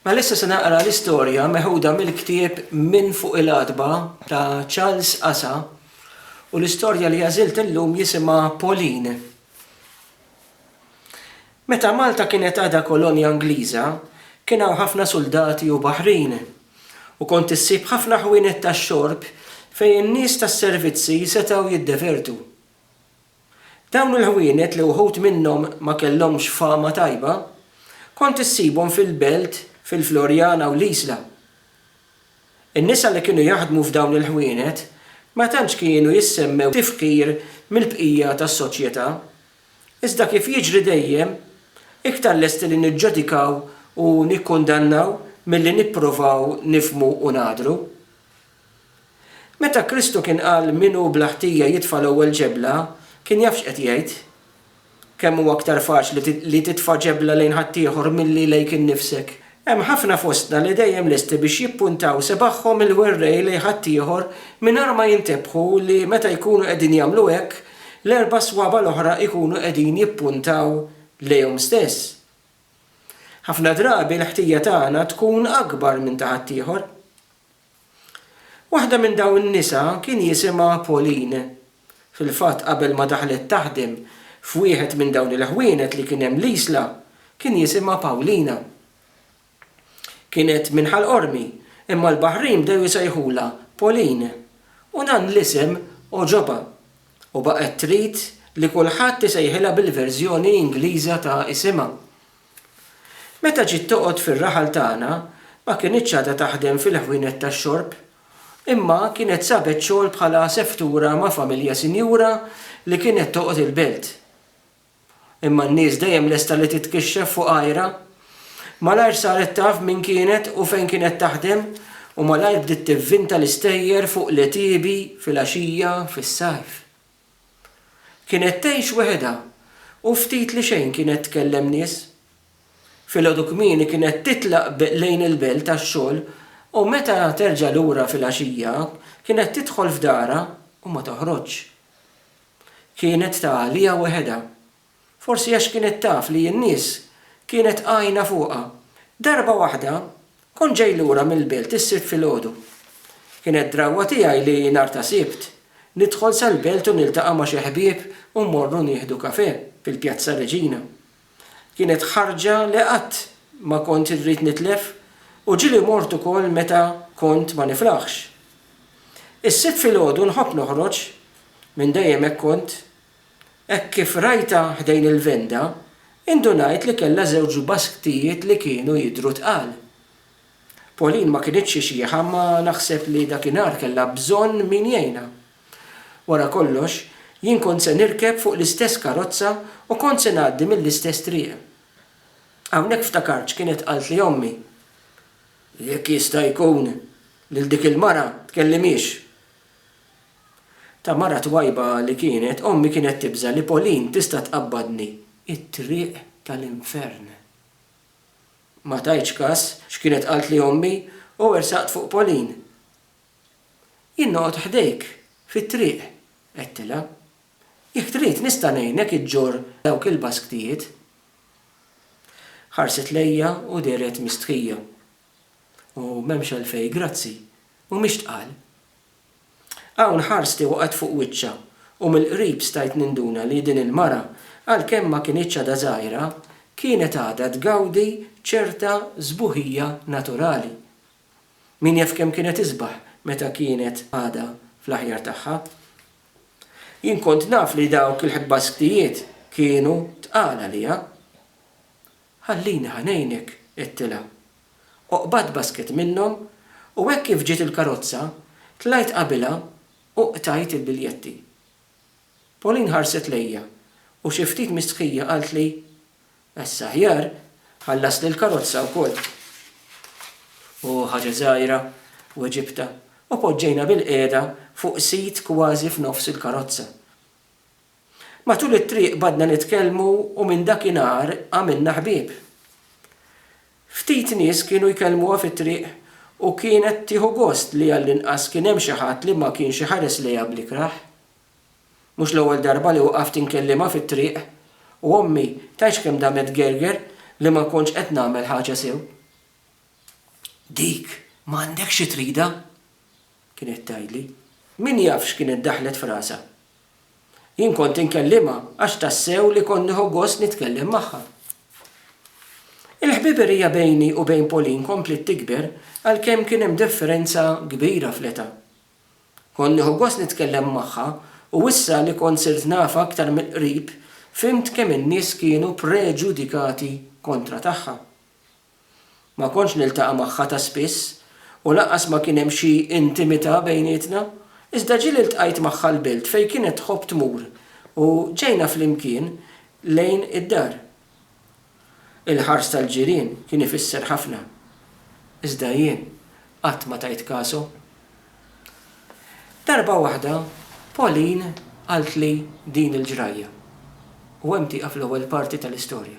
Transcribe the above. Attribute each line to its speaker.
Speaker 1: Mela issa se naqra l-istorja meħuda mill-ktieb Minn Fuq il-Għatba ta' Charles Asa u l-istorja li għażilt illum jisimha Pauline. Meta Malta kienet għadha kolonja Ingliża, kien hawn ħafna suldati u baħrin, u kont issib ħafna ħwienet tax-xorb fejn in-nies tas-servizzi setgħu jiddevertu. Dawn il-ħwienet li wħud minnhom ma kellhomx fama tajba, kont issibhom fil-Belt, fil-Floriana u l-Isla. In-nisa li kienu jaħdmu f'dawn il-ħwienet ma tantx kienu jissemmew b'tifħir mill-bqija tas-soċjetà. Iżda kif jiġri dejjem, iktar lesti li niġġudikaw u nikkundannaw milli nipprovaw nifhmu u nagħdru. Meta Kristu kien qal min hu bla ħtija jitfa' l-ewwel ġebla, kien jaf x'qed jgħid. Kemm hu aktar faċli li titfa' ġebla lejn ħaddieħor milli lejk innifsek! Hemm ħafna fostna li dejjem lesti biex jippuntaw sebaħhom il-werrej lejn ħaddieħor mingħajr ma jintebħu li meta jkunu qegħdin jagħmlu hekk, l-erba' swaba' l-oħra jkunu qegħdin jippuntaw lejhom stess. Ħafna drabi l-ħtija tagħna tkun akbar minn ta' ħaddieħor. Waħda minn dawn in-nisa kien jisimha Pauline. Fil-fatt qabel ma daħlet taħdem f'wieħed minn dawn il-ħwienet li kien hemm l-Isla, kien jisimha Paulina. Kienet minn Ħal Qormi, imma l-Baħrin bdew isejħulha Pauline u dan l-isem għoġobha u baqgħet trid li kulħadd isejħilha bil-verżjoni Ingliża ta' isimha. Meta ġiet toqgħod fir-raħal tagħna, ma kinitx għadha taħdem fil-ħwienet tax-xorb, imma kienet sabet xogħol bħala aseftura ma' familja sinjura li kienet toqgħod il-belt. Imma n-nies dejjem lesta li titkixxef fuq għajrha. Malajr saret taf min kienet u fejn kienet taħdem u malajr bdiet tivvinta l-istejjer fuq l-għetiebi, fil-għaxija, fis-sajf. Kienet tgħix weħidha u ftit li xejn kienet tkellem nies. Filgħodu kmieni kienet titlaq lejn il-belt għax-xogħol u meta terġa' lura filgħaxija kienet tidħol f'darha u ma toħroġx. Kienet ta' għaliha weħidha. Forsi għax kienet taf li n-nies kienet għajna fuqha. Darba waħda, kont ġej lura mill-belt is-Sibt filgħodu. Kienet drawwa tiegħi li nhar ta' Sibt, nidħol sal-belt u niltaqa' ma' xi ħbieb u mmorru nieħdu kafè fil-Pjazza Reġina. Kienet ħarġa li qatt ma kont irrid nitlef u ġieli mort ukoll meta kont ma niflaħx. Is-Sibt filgħodu nħobb noħroġ, minn dejjem hekk kont, Hekk kif rajtha ħdejn il-venda, indunajt li kellha żewġ basktijiet li kienu jidhru tqal. Pauline ma kinitx ixieħa imma naħseb li dakinhar kellha bżonn min jgħinha. Wara kollox, jien kont se nirkeb fuq l-istess karozza u kont se ngħaddi mill-istess triq. Hawnhekk ftakart x'kienet qaltli ommi, Jekk jista' jkun, lil dik il-mara tkellimhiex. Ta' mara twajba li kienet, ommi kienet tibża' li Pauline tista' tqabbadni t-triq tal-infern. Ma tajtx kas x'kienet qaltli ommi u wersaqt fuq Pauline. Jien noqgħod ħdejk fit-triq, għedtilha. Jekk trid nista' ngħinek iġġorr dawk il-basktijiet. Ħarset lejja u dehret mistħija. U m'hemmx għalfejn grazzi, u mhix tqal. Hawn ħarsti waqgħet fuq wiċċha u mill-qrib stajt ninduna li din il-mara, għalkemm ma kinitx għadha żgħira, kienet għadha tgawdi ċerta sbuħija naturali. Min jaf kemm kienet isbaħ meta kienet għadha fl-aħjar tagħha. Jien kont naf li dawk il-ħbasktijiet kienu tqal għaliha. Ħallini ħa ngħinek, għedtilha. u qbadt basket minnhom u hekk kif ġiet il-karozza tlajt qabilha u qtajt il-biljetti. Pauline ħarset lejja u xi ftit mistħija qaltli, Għeż aħjar, ħallasli l-karozza wkoll. Hu ħaġa żgħira, weġibtha u poġġejna bilqiegħda fuq sit kważi f'nofs il-karozza. Matul it-triq baqgħdna nitkellmu u minn dakinhar għamilna ħbieb. Ftit nies kienu jkellmuha fit-triq u kienet tieħu gost li għall-inqas kien hemm xi ħadd li ma kienx iħares lejha bl-ikrah. Mhux l-ewwel darba li waqaft inkellimha fit-triq u ommi tgħidx kemm damet gerger li ma kontx qed nagħmel ħaġa sew. Dik m'għandekx xi tridha! kienet tgħidli. Min jaf x'kienet daħlet f'rasha. Jien kont inkellimha għax tassew li kont nieħu gost nitkellem magħha. Il-ħbiberija bejni u bejn Pauline kompliet tikber għalkemm kien hemm differenza kbira fl-età. Kont nieħu gost nitkellem magħha u issa li kont sirt nafha aktar mill-qrib fhimt kemm in-nies kienu preġudikati kontra tagħha. Ma kontx niltaqa' magħha ta' spiss u lanqas ma kien hemm xi intimità bejnietna, iżda ġieli ltqajt magħha l-belt fejn kienet tħobb tmur u ġejna flimkien lejn id-dar. Il-ħars tal-ġirien kien ifisser ħafna, iżda jien qatt ma tajt kasu. Darba waħda Pauline qaltli din il-ġrajja, u hemm tieqaf l-ewwel parti tal-istorja.